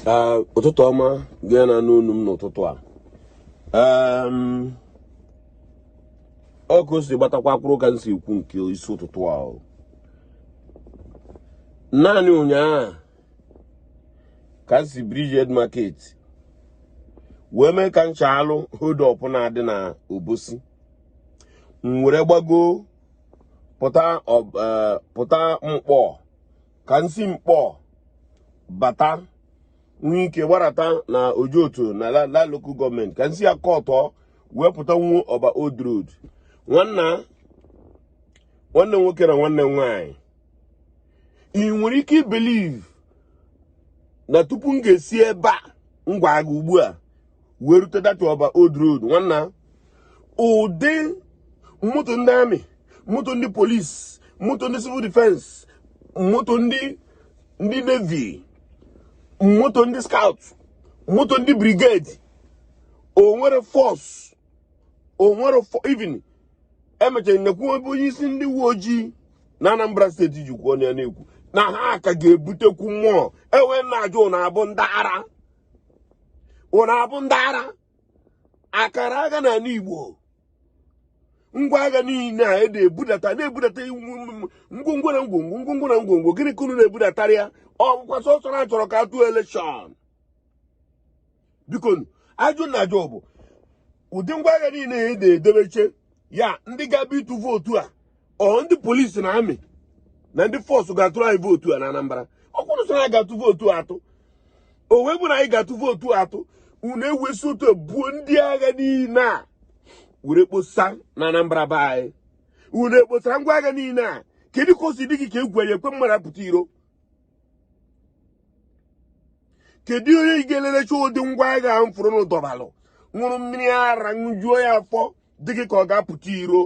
Ah, ụtụtụ ọma gị na-anụ onu m n'ụtụtụ a ọ ka o si gbatakwa kwụrụ ka m si ekwu nke isi ụtụtụ a naanị ụnyaahụ ka m si Bridgehead Market wee mee ka m chaalụ hold up na-adị na Obosi m were gbago pụta eh, Nkpor ka m si Nkpor bata nwee ike gbarata na Ojoto na la lokal gọọmenti ka m si ya kọtọ wee pụta n'Ọba old road nwanna nwanne nwoke na nwanne nwanyị ị nwere ike ibelive na tupu m ga-esi ebe a m gwa gị ugbu a wee rute that Ọba old road nwanna ụdị moto ndị amị moto ndị polisi moto ndị civil defense moto ndị ndị navy moto ndị scout moto ndị brigade o nwere force o nwere even e mechara m nekwu ebe onye isi ndị uwe ojii na anambra steeti jikwa ọnụ ya na-ekwu na ha ka ga-ebutekwu more e wee na-ajụ unu abụ ndị ara unu abụ ndị ara a kara agha na ala igbo ngwa agha niile a ede ebudata na-ebudata ngwongwo na ngwongwo ngwongwo na ngwongwo gịnị ka unu na-ebudatara ya ọ bụkwa sọsọ na a chọrọ ka a tụọ elekshọn bikonụ ajụ m na-ajụ bụ ụdị ngwa agha niile ya ede edebeche ya ndị ga-abịa ịtụ vootu a ọ ndị polisi na amị na ndị force ga-atụrụ anyị vootu a na Anambra ọ bụrọ sọ na anyị ga-atụ vootu atụ o wee bụ na anyị ga-atụ vootu atụ unu ewee si otu a buo ndị agha niile a were kposa na Anambra be anyị unu ekposara ngwa agha niile a kedu ka o si dị gị ka egwu ya-ekwe mmadụ apụta iro kedu onye ị ga-elelecha ụdị ngwa agha ahụ m fụrụ n'ụdọbalụ ṅụrụ mmiri ara ṅụjuo ya afọ dị gị ka ọ ga-apụta iro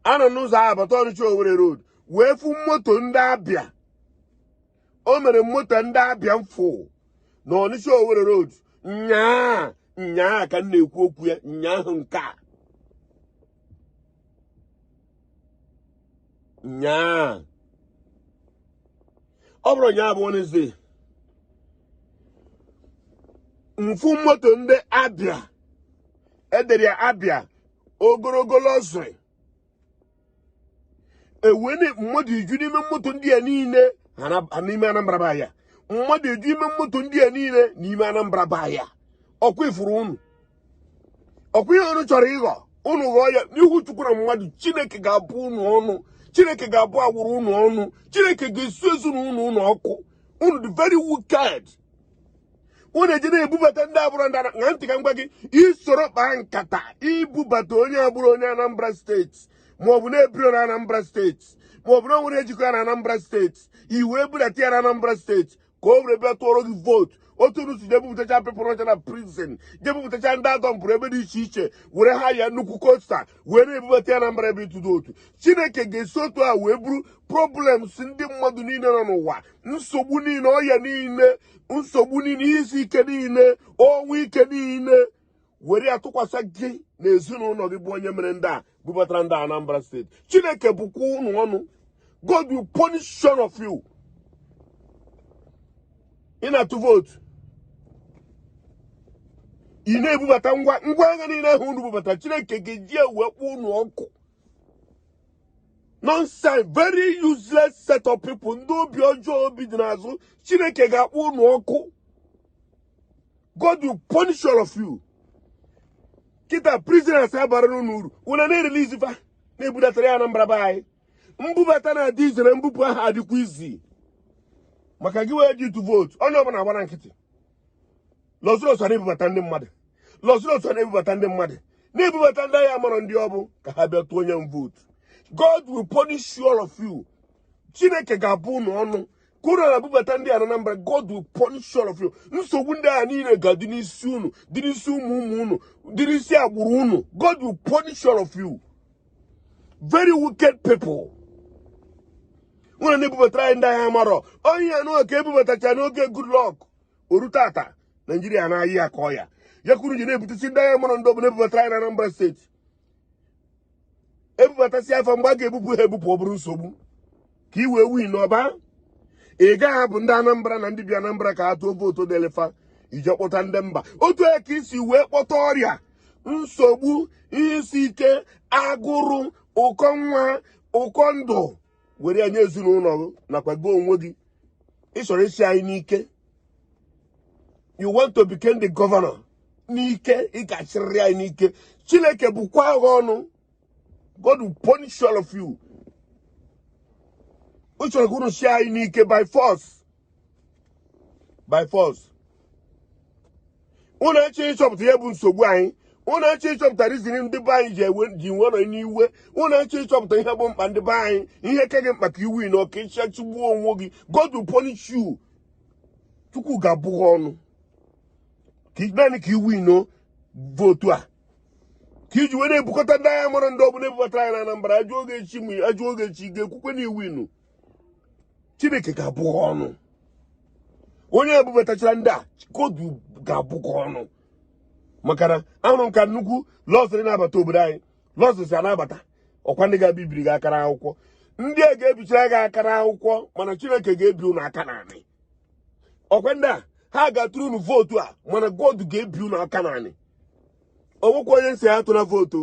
a nọ n'ụzọ ahụ bata ọnịcha Owerri road wee fụ moto ndị Abịa armoured moto ndị Abịa m fụ na ọnịcha Owerri road nyaa nyaa ka m na-ekwu okwu ya nyaahụ nke a nyaa ọ bụrọ nyaa bụ Wednesday m fụ moto ndị Abịa edere ya abia ogologo luxury ewee na- mmadụ eju n'ime moto ndị a niile ha na- ha n'ime anambra be anyị mmadụ eju ime moto ndị a niile n'ime anambra be anyị ọkwa ifuru unu ọkwa ihe unu chọrọ ịghọ unu ghọọ ya n'ihu chukwu na mmadụ chineke ga-abụ unu ọnụ chineke ga-abụ agbụrụ unu ọnụ chineke ga-esu ezinụlọ unu ọkụ unu dị very wicked unu eji na-ebubata ndị abụrọ ndị ṅa ntị ka m gwa gị i soro kpaa nkata ibubata onye abụrọ onye Anambra steeti maọbụ na-ebiro na Anambra steeti maọbụ na o nwerọ ihe jikọ ya na Anambra steeti i wee budata ya na Anambra steeti ka o were bịa tụọrọ gị vootu otu unu si je bupụtacha pepụrụ ọcha na prison je bupụtacha ndị a dọmpụrụ ebe dị iche iche were hire nnukwu coaster wee na-ebubata ya na Anambra ebe ịtụ vootu chineke ga-esi otu a wee buru problems ndị mmadụ niile nọ n'ụwa nsogbu niile ọya niile nsogbu niile ihe isi ike niile ọnwụ ike niile were ya tụkwasị gị na ezinụlọ gị bụ onye mere ndị a bubatara ndị Anambra steeti chineke bụkwa unu ọnụ God will punish all of you ị na-atụ vootu ị na-ebubata ngwa agha niile ahụ unu bubata chineke ga-eji wee kpọ unu ọkụ nonsense very useless set of people ndị obi ọjọọ obi dị n'azụ chineke ga-akpọ unu ọkụ god will punish all of you kịta prisoners abara unu uru unu na-erelease fa na-ebudatara anyị na anambra be anyị mbubata na-adị easy na mbupụ aha adịkwa easy maka gị wee ji ịtụ vootu onye ọbụla agbara nkịtị luxurious na-ebubata ndị mmadụ luxurious na-ebubata ndị mmadụ na-ebubata ndị a amarọ ndị ọ bụ ka ha bịa tụọ onye m vootu God will punish you all of you chineke ga-abụ unu ọnụ ka unu na-ebubata ndị Anambra God will punish all of you nsogbu ndị ahụ niile ga-adị n'isi unu dị n'isi ụmụ ụmụ unu dị n'isi agbụrụ unu God will punish all of you very wicked people unu na-ebubatara anyị ndị a amarọ onye ya nụọ ka e bubatacha n'oge goodluck o ru tata nigeria na-aya ka ọya ya ka unu ji na-ebutesi ndị a amarọ ndị ọ bụ na-ebubatara anyị na anambra steeti e bubatasịa fa mgbe a ga-ebupụ ha ebupụ ọ bụrụ nsogbu ka i wee win ọ bụ ị gaghị ahapụ ndị anambra na ndị bi anambra ka ha tụọ vootu delefa i je kpọta ndị mba otu a ka i si wee kpọta ọrịa nsogbu ihe isi ike agụrụ ụkọ nwa ụkọ ndụ were ya nye ezinụlọ gị nakwa gị onwe gị ị chọrọ ịchị anyị n'ike you want to become the governor n'ike ị ga-achịrịrị anyị n'ike chineke bụkwaa gị ọnụ God will punish all of you ị chọrọ ka unu sie anyị n'ike by force by force unu eche ịchọpụta ihe bụ nsogbu anyị unu eche ịchọpụta rizin ndị be anyị ji ewe ji nwe nọ n'iwe unu eche ịchọpụta ihe bụ mkpa ndị be anyị ihe ka gị mkpa ka i winuo ka ị chịcha chigbuo onwe gị God will punish you Chukwu ga-abụ gị ọnụ ka naanị ka i winuo vootu a ka i ji were ebukọta ndị agha mara ndị ọbụla ebubatara anyị na Anambra a jụọ gị echi ma a jụọ gị echi ga-ekwukwe na i winu Chineke ga-abụ gị ọnụ onye ebubatachara ndị a God ga-abụ gị ọnụ maka na ahụrụ m ka nnukwu luxury na-abata obodo anyị luxuries a na-abata ọkwa ndị ga-abịa biri gị aka n'akwụkwọ ndị a ga-ebichara gị aka n'akwụkwọ mana Chineke ga-ebi unu aka n'anị ọkwa ndị a ha ga-atụrụ unu vootu a mana God ga-ebi unu aka n'anị o nwekwa onye m sị atụna vootu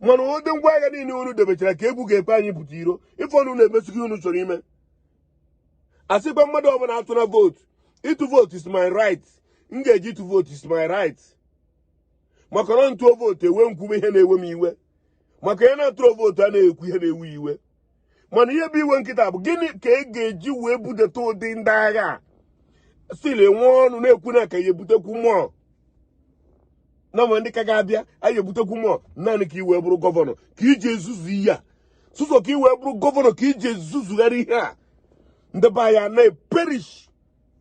mana ụdị ngwa agha niile unu debechara ka egwu ga-ekwe anyị pụta iro ife unu na-emesighị unu chọrọ ime asịkwa mmadụ ọbụla atụna vootu ịtụ vootu is my right m ga-eje ịtụ vootu is my right maka na m tụọ vootu ewee m kwube ihe na-ewe m iwe maka onye na-atụrọ vootu a na-ekwu ihe na-ewe ya iwe mana ihe bụ iwe m kịta bụ gịnị ka ị ga-eji wee budeta ụdị ndị agha a still nwee ọnụ na-ekwu na ka ya ebutekwu more na ma ndị ka ga-abịa a ya ebutekwu more naanị ka ị wee bụrụ gọvanọ ka i ji ezuzu ihe a sụsọ ka ị wee bụrụ gọvanọ ka i ji ezuzugharị ihe a ndị be anyị na-eperish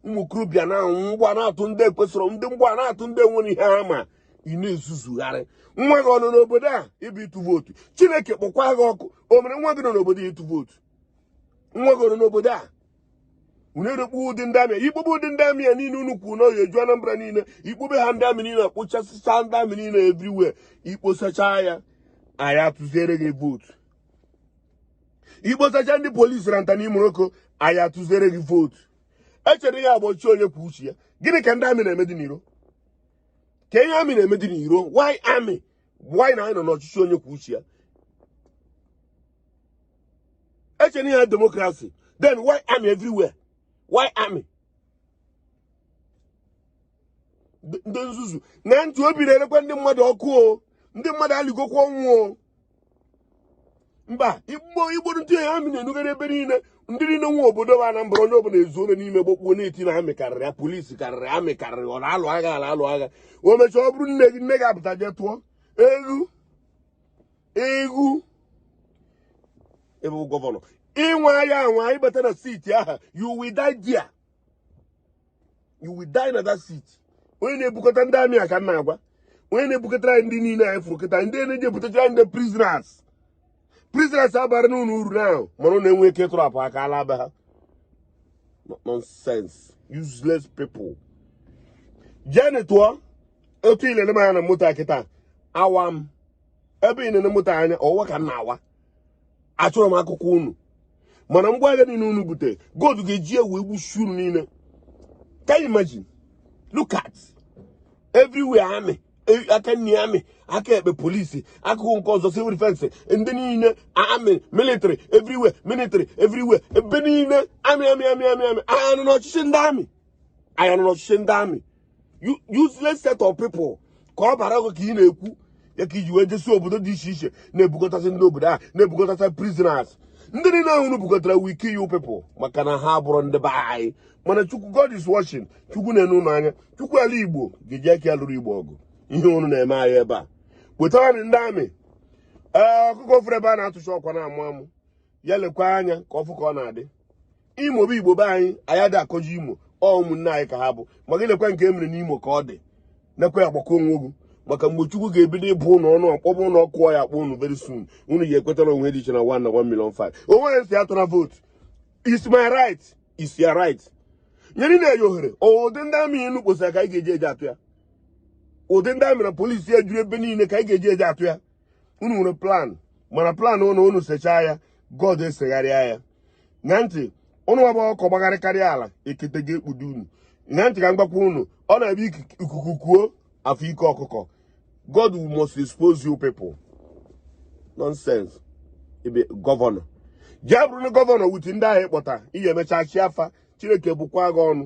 ụmụ okorobịa na-anwụ mgbọ na-atụ ndị ekwesịrọ ndị mgbọ na-atụ ndị enwerọ ihe ha ma ị na-ezuzugharị nwa gị ọ nọ n'obodo a ịbịa ịtụ vootu Chineke kpọkwa gị ọkụ o mere nwa gị nọ n'obodo ịtụ vootu nwa gị nọ n'obodo a unu erekpu ụdị ndị amị ikpube ụdị ndị amị a niile unu kwuru n'oyi eju Anambra niile ikpube ha ndị amị niile akpụchasịcha ndị amị niile everywhere i kposacha ya anyị atụziere gị vootu i kposacha ndị polisi na nta n'ime oko anyị atụziere gị vootu echere ihe a bụ ọchịchị onye kwuo uche ya gịnị ka ndị amị na-eme dị n'iro kee ihe amị na-eme dị n'iro why amị why na anyị nọ n'ọchịchị onye kwuo uche ya echere ihe a demokrasi then why amị everywhere why amị ndị nzuzu na ntị obi na-erekwa ndị mmadụ ọkụ o ndị mmadụ alịgokwa ọnwụ o mba igbo igbo ndị ya amị na-enugharị ebe niile ndị niile nwe obodo bụ Anambra onye ọbụla ezoro n'ime gbakpuo na-eti na amị karịrị ya polisi karịrị amị karịrị ọ na-alụ agha a na-alụ agha o mechaa ọ bụrụ nne gị nne gị apụta jee tụọ egwu egwu ebe gọvanọ ị nwaa ya anwa ịbata na seat ahụ you will die you will die na that seat onye na-ebukọta ndị amị a ka m na-agwa onye na-ebukọtara anyị ndị niile anyị fụrụ kịta ndị na-eji ebutachara ndị prisoners prisoners abara unu uru na ahụ mana unu enwe ike ịtọrapụ ha ka ha laa be ha nonsense useless people jeni tụọ vootu ilele m anya na moto a kịta awa m ebe ị na-ene moto anya ọwa ka m na-awa achọrọ m akụkọ unu mana ngwa agha niile unu bute god ga-eji ya wee gbusie unu niile can you imagine look at everywhere amị aka nni amị aka ekpe polisi akụkụ nke ọzọ civil defense ndị niile amị military everywhere military everywhere ebe niile amị amị amị amị amị anyị nọ n'ọchịchị ndị amị anyị nọ n'ọchịchị ndị amị useless set of people ka ọ bara ọgụ ka ị na-ekwu ya ka iji wee jesi obodo dị iche iche na-ebukọtasị ndị obodo a na-ebukọtasị prisoners ndị niile ahụ unu bukọtara will kill you people maka na ha abụrọ ndị be anyị mana chukwu god is watching chukwu na-ene unu anya chukwu ala igbo ga-eji aka ya lụrụ igbo ọgụ ihe unu na-eme anyị ebe a wetara ndị amị ee ọkụkọ fụrụ ebe a na-atụcha ọkwa na-amụ amụ ya lekwa anya ka ọ fụ ka ọ na-adị imo bụ igbo be anyị anyị adị akọji imo ọ ụmụnne anyị ka ha bụ ma gị nekwa nke e mere n'imo ka ọ dị nekwa ya gbakọọ onwe ugwu maka mgbe chukwu ga-ebido ịbụ unu ọnụ ọ kpọba unu ọkụ ọ ya-akpọ unu very soon unu ya-ekweta na o nwe dị iche na 1 na 1 million 5 onye m sị atụna vootu is my right is your right nyere na eyi ohere ụdị ndị amị unu kposara ka anyị ga-eji eje atụ ya ụdị ndị amị na polisi ya juru ebe niile ka anyị ga-eji eje atụ ya unu nwere plan mana plan unu unu sechaa ya god esegharịa ya na ntị unu ọ bụ ọkọ gbagharịkarịa ala ekete ga-ekpudo unu na ntị ka m gwakwa unu ọ na-abụ ikuku kuo a fụ ike ọkụkọ god must expose you people nonsense ị bụ gọvanọ jee bụrụ na gọvanọ with ndị ahụ ị kpọta ị ga-emecha chịa fa chineke bụkwa gị ọnụ